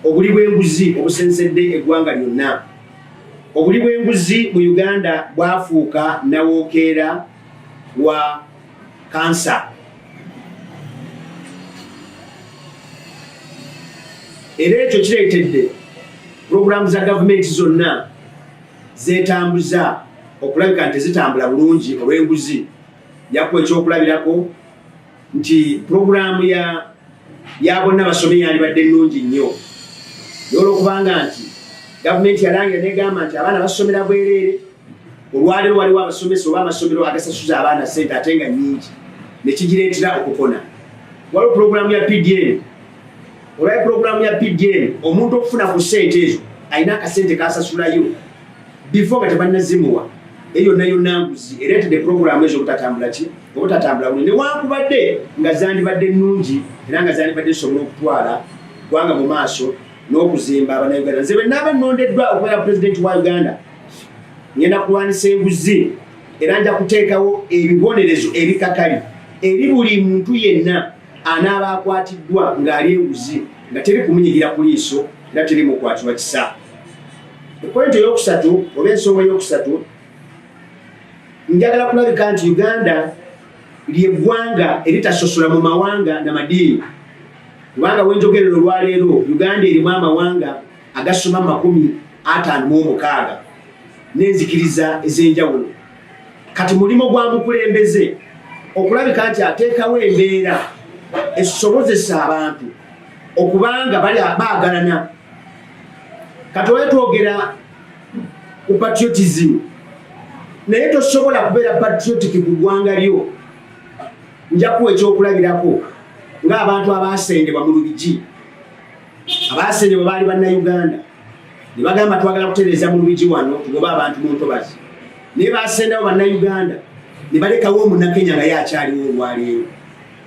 Obuli bw'enguzi obusensedde eggwanga lyonna. Obuli bw'enguzi mu Uganda bwafuuka nawookeera wa kansa. Era ekyo kireetedde pulogulaamu za gavumenti zonna zeetambuza okulabika nti zitambula bulungi olw'enguzi. Yakuwa ekyokulabirako nti pulogulaamu ya ya bonna basome yalibadde nnungi nnyo nolwokubanga nti gavumenti yalangira negamba nti abaana basomera bwereere olwaliro waliwo abasomesa oba amasomero agasasuza abaana sente ate nga nyingi nekigireetera okukona waliwo pulogulaamu ya pdn olwaye pulogulaamu ya pdn omuntu okufuna ku sente ezo alina akasente kasasulayo before nga tebannazimuwa naye yonna yonna nguzi ereetedde pulogulaamu ezo obutatambula ki obutatambula buli newankubadde nga zandibadde nnungi era nga zandibadde zisobola okutwala gwanga mu maaso n'okuzimba abanauganda nze benaaba nnondeddwa okubeera pulezidenti wa uganda ngenda kulwanisa enguzi era nja kuteekawo ebibonerezo ebikakali eri buli muntu yenna anaaba akwatiddwa ng'ali enguzi nga teri kumunyigira ku liiso era teri mukwatirwa kisa Epointi eyokusatu oba ensonga eyokusatu njagala kulabika nti Uganda lyeggwanga eritasosola mu mawanga na madiini kubanga wenjogerera olwaleero Uganda erimu amawanga agasoma makumi ataano mu omukaaga n'enzikiriza ez'enjawulo kati mulimu gwa mukulembeze okulabika nti ateekawo embeera esobozesa abantu okubanga bali baagalana kati oyo twogera ku patriotism naye tosobola kubeera patriotic ku ggwanga lyo njakuwa ekyokulabirako ng'abantu abaasendebwa mu lubigi abaasendebwa baali bannayuganda ne bagamba twagala kutereeza mu lubigi wano tugoba abantu mu ntobazi naye baasendawo bannayuganda ne balekawo omunakenya naye akyaliwo olwaleero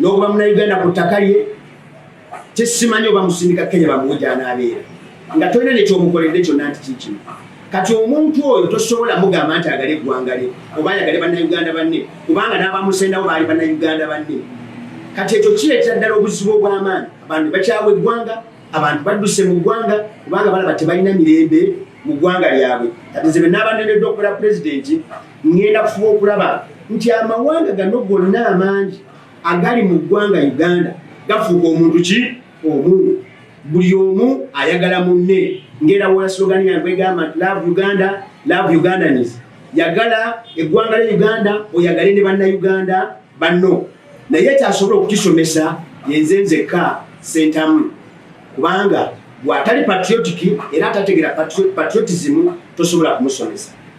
n'okuba munayuganda ku ttaka lye kyesimanyi oba musindika kenya bamuwe gyanabeera nga tolina nekyomukoledde kyonna nti kikino kati omuntu oyo tosobola mugamba nti agale eggwanga lye oba ayagale bannayuganda banne kubanga n'abamusendawo baali bannayuganda banne kati ekyo kireetera ddala obuzibu obw'amaanyi abantu bakyawa eggwanga abantu badduse mu ggwanga kubanga balaba tebalina mirembe mu ggwanga lyabwe kati nze benaabanenedde okukola pulezidenti ŋŋenda kufuba okulaba nti amawanga gano gonna amangi agali mu ggwanga uganda gafuuka omuntu ki omu buli omu ayagala munne ngera wolaslogani yange egamba nti love uganda love ugandanis yagala eggwanga lya uganda oyagale ne bannauganda banno naye kyasobola okukisomesa yenze nzekka sentamu kubanga bwatali patriotiki era atategera patriotism tosobola kumusomesa